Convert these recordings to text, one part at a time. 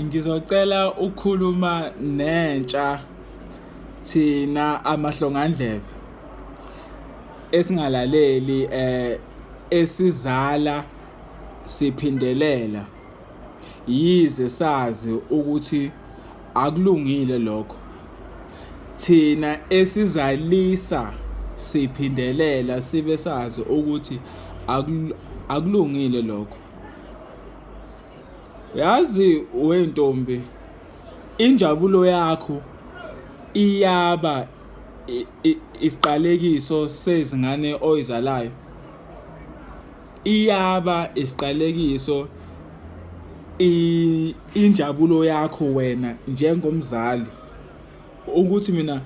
Ngizocela ukukhuluma nentsha thina amahlongandlebe esingalaleli eh esizala siphindelela yize sazi ukuthi akulungile lokho thina esizalisa siphindelela sibe sazi ukuthi akulungile lokho Yazi wentombi injabulo yakho iyaba isiqalekiso sezingane oyizalayo. Iyaba isiqalekiso injabulo yakho wena njengomzali ukuthi mina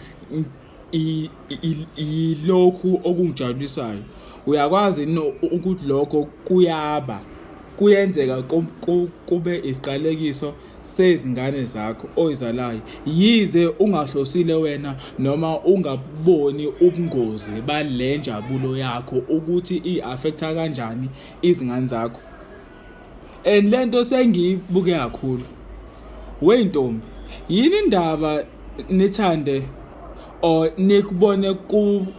Yilokhu okungijabulisayo. Uyakwazi yini ukuthi lokho kuyaba kuyenzeka kube isiqalekiso sezingane zakho oyizalayo, yize ungahlosile wena noma ungaboni ubungozi bale njabulo yakho ukuthi i-affect-a kanjani izingane zakho? and lento sengiyibuke kakhulu wey ntombi yini indaba nithande or nikubone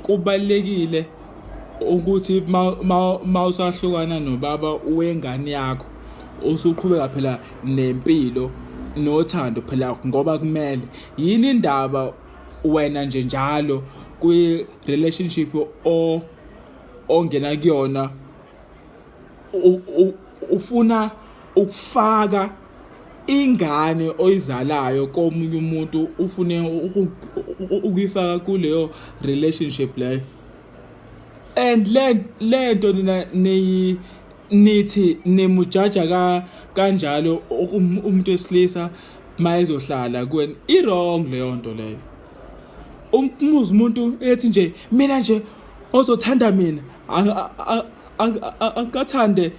kubalekile ukuthi mawusahlukana nobaba wengane yakho usuqhubeka phela nempilo nothando phela ngoba kumele yini indaba wena nje njalo kwi relationship o ongena kuyona ufuna ukufaka ingane oyizalayo komunye umuntu ufune ukuyifaka kuleyo relationship leyo and le lento nina niyi nithi nimujaja ka kanjalo um, umuntu wesilisa mayezohlala kweni i wrong leyo nto leyo umuzi umuntu ethi nje mina nje ozothanda mina angikathande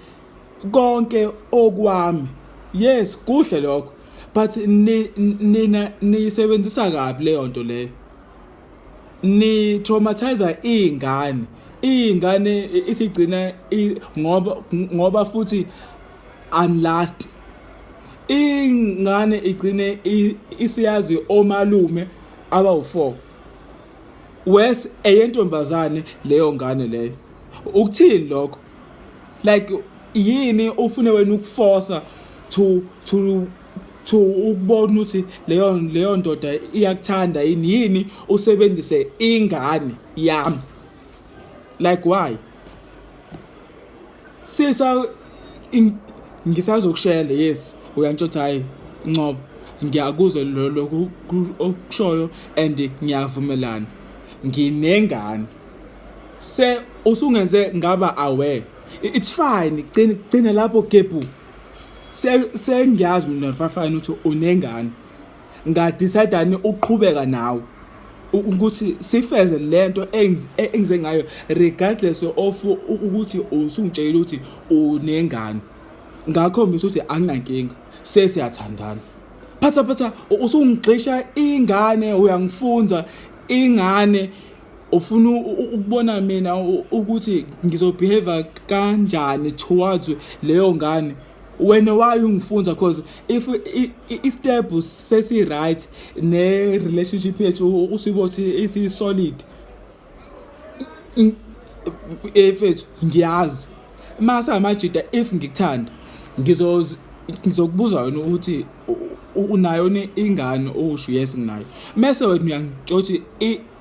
konke okwami yes kuhle lokho but nina niyisebenzisa kabi leyo nto leyo ni traumatizer izingane izingane isigcina ngoba ngoba futhi unlast ingane igcine isiyazi omalume abawu4 worse eyentombazane leyo ngane leyo ukuthini lokho like yini ufune wena ukuforsa to to to ukubona ukuthi leyo leyo ndoda iyakuthanda yini yini usebenzise ingane yami like why Sisa ngisazokushela yes uyantshotha hhayi Ncobo ngiyakuzwa lokhu okushoyo and ngiyavumelana nginengane se usungenze ngaba aware it's fine gcina gcina lapho gebhu sengiyazi mina mfafane ukuthi unengane Nga decide ani ukuqhubeka nawe ukuthi sifeze lento engize ngayo regardless of ukuthi usungitshelile ukuthi unengane ngakhombisa ukuthi anginankinga sesiyathandana phatha phatha usungixisha ingane uyangifunza ingane ufuna ukubona mina ukuthi ngizobehave kanjani towards leyo ngane wena why ungifunza cause if i-step sesi-right ne-relationship yethu usibothi isi-solid efethu ngiyazi uma samajida if ngikuthanda ngizokubuza wena ukuthi unayo ingane owusho yes nginayo mese wena uyangitsho ukuthi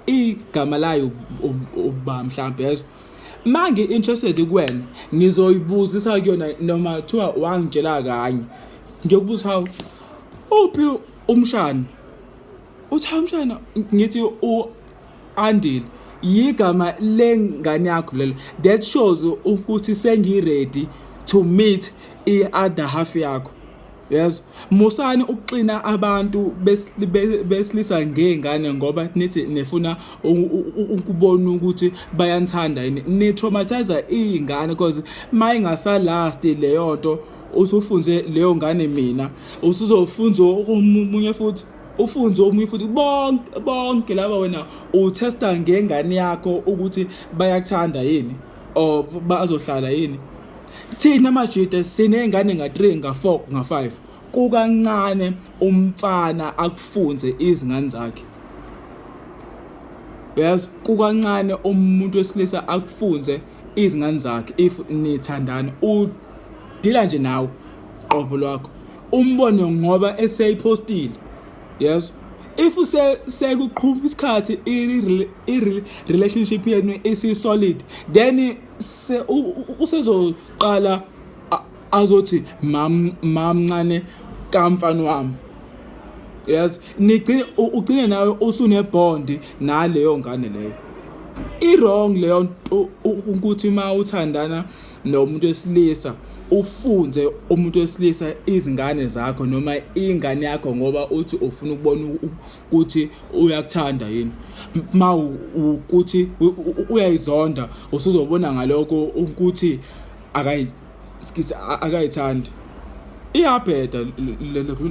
igama layo uba mhlawumbe yezo uma ngi-interested kuwena ngizoyibuzisa kuyona noma kuthiwa wangitshela kanye ngiyokubuza hawu uphi umshana uthi hawu umshana ngithi u-andile yigama lengane yakho lelo that shows ukuthi sengiready to meet i-other half yakho Yes. Musani ukuxina abantu besilisa ngezingane ngoba nithi nifuna ukubona ukuthi bayanithanda yini. Ni traumatize izingane because mayingasa last leyo nto usufunze leyo ngane mina usuzofunza omunye futhi ufunze omunye futhi bonke bonke laba wena utesta ngengane yakho ukuthi bayakuthanda yini or bazohlala yini Thina maJuda siney'ngane nga-3 nga-4 nga-5 kukancane umfana akufunze izingane zakhe yazi kukancane umuntu wesilisa akufunze izingane zakhe if nithandana udila nje nawe qobo lwakho umbone ngoba eseyiphostile yes if use sekuqhuma isikhathi i relationship yenu isi solid then Se usezoqala azothi mam mamncane kamfana wami. Yes, nigcine ugcine nawe usunebond naleyo ngane leyo. I wrong leyo ukuthi uma uthandana nomuntu wesilisa ufunze umuntu wesilisa izingane zakho noma ingane yakho ngoba uthi ufuna ukubona ukuthi uyakuthanda yini ma ukuthi uyayizonda usuzobona ngaloko ukuthi akayi skisi akayithandi iyabheda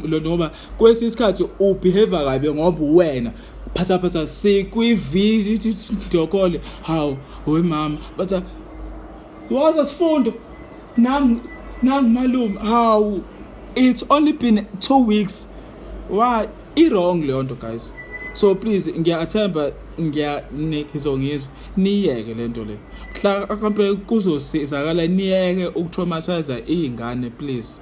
le ngoba kwesinye isikhathi ubehave kabi ngoba uwena phatha phatha sikwivideo call hawu wemama but waza sifundo nangu nangu malume hawu it's only been two weeks why i-wrong leyo nto guys so please ngiyathemba ngiyangizongizwa niyeke le nto le mhla mhlawumpe kuzosizakala niyeke ukutraumathiza iy'ngane please